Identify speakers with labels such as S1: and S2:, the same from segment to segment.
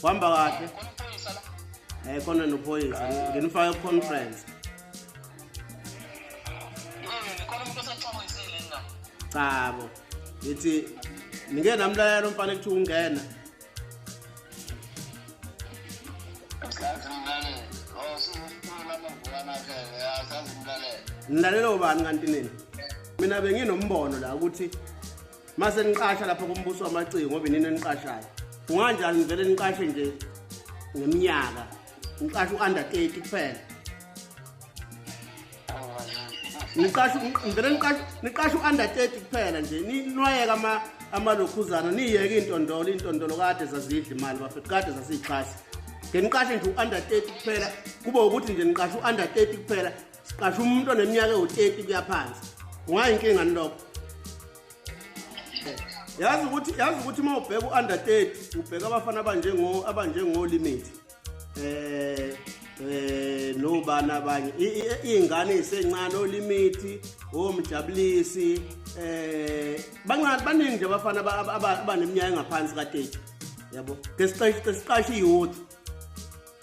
S1: kuhamba kahle
S2: um
S1: khona
S2: nophoyisa nginifake ku-conference
S1: chabo
S2: ngithi nike namlayelo mfana ekuthiwa ungena ngilalele ubani kanti nini mina benginombono la ukuthi mase niqasha lapha kumbuso wamaciko ngoba inini eniqashayo kunganjani nivele niqashe nje ngeminyaka niqashe u-under 30 kuphela niqashe nivele niqashe niqashe u-under 30 kuphela nje ninwayeka ama amalokhuzana niyeke intondolo intondolo kade zazidla imali bafethu kade zasiyixhasa ngeniqashe nje u-under 30 kuphela kube ukuthi nje niqashe u-under 30 kuphela siqasha umuntu oneminyaka ewu-30 kuya phansi kungayinkinga ni lokho yazi ukuthi yazi ukuthi uma ubheka u-under 30 ubheka abafana abanjengo abanjengolimate eh eh nobani abanye iy'ngane ey'sencane olimithi omjabulisi eh bancane baningi nje abafana abaneminyaka engaphansi ka-30 yabo ke siqashe i-youth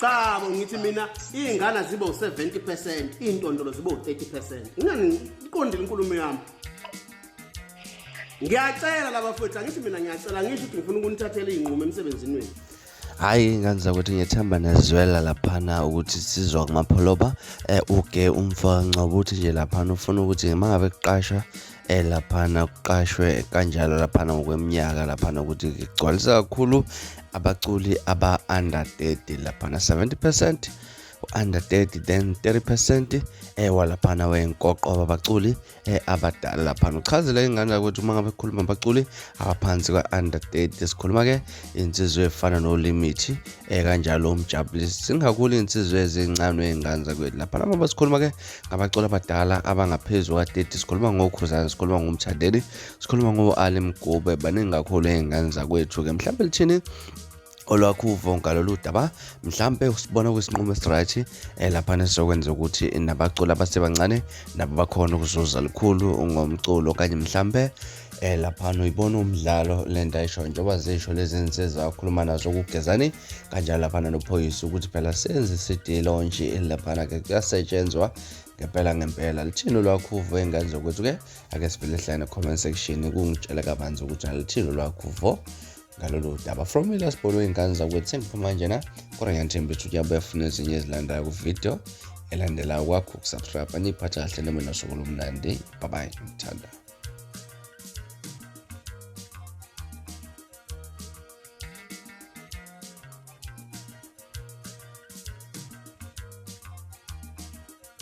S1: cha bo
S2: ngithi mina iy'ngane ziba u-70 percent iy'ntondolo ziba u-30 percent ingani iqondile inkulumo yami ngiyacela laba fwethu angithi mina ngiyacela ngisho ukuthi ngifuna ukunithathela iy'nqumo emsebenzini wenu hhayi ingane
S3: zakuthi ngethemba nezwela laphana ukuthi sizwa kumapholoba eh, uge umfa ncobuthi nje laphana ufuna ukuthi uma ngabe kuqasha eh laphana kuqashwe kanjalo laphana ngokweminyaka laphana ukuthi kugcwalisa kakhulu abaculi aba-under 30 laphana 70 percent u-under 30 then 30 percent eh walaphana wenkoqo babaculi eh, abadala lapha uchazela ingane ukuthi uma ngabe khuluma abaculi abaphansi kwa-under 30 sikhuluma ke insizwe efana nolimithi eh kanjalo umjabulisi singakuli insizwe ezincane ey'ngane zakwethu lapha lama basikhuluma ke ngabaculi abadala abangaphezu kwa-30 sikhuluma ngokhuzana sikhuluma ngomthandeni sikhuluma ngo-ali mgube baningi kakhulu ey'ngane zakwethu-ke mhlawumbe lithini olwakhuvo ngalolu daba mhlampe usibona kwisinqumo esiright eh, laphana esizokwenza ukuthi nabaculi abasebancane nabo bakhona ukuzuza lukhulu ngomculo okanye mhlampe eh laphana uyibona umdlalo le nto ayisho njengoba zisho lezi nsizwa akhuluma nazo kugezani kanjalo laphana nophoyisa ukuthi phela senze isidilo nje laphana-ke kuyasetshenzwa ngempela ngempela lithini olwakhuvo ey'ngane zokwethu-ke ake sivele hlane comment section kungitshela kabanzi ukuthi alithini olwakhuvo ngalolu daba from ilasbol wey'ngane zakwethembi kumanje na kodwa ngiyathemba ukuthi uyabuya funa ezinye ezilandayo kwividiyo elandelayo kwakho ukusubscribe aniyiphatha kahle noma nosuku lomnandi babayi ngithanda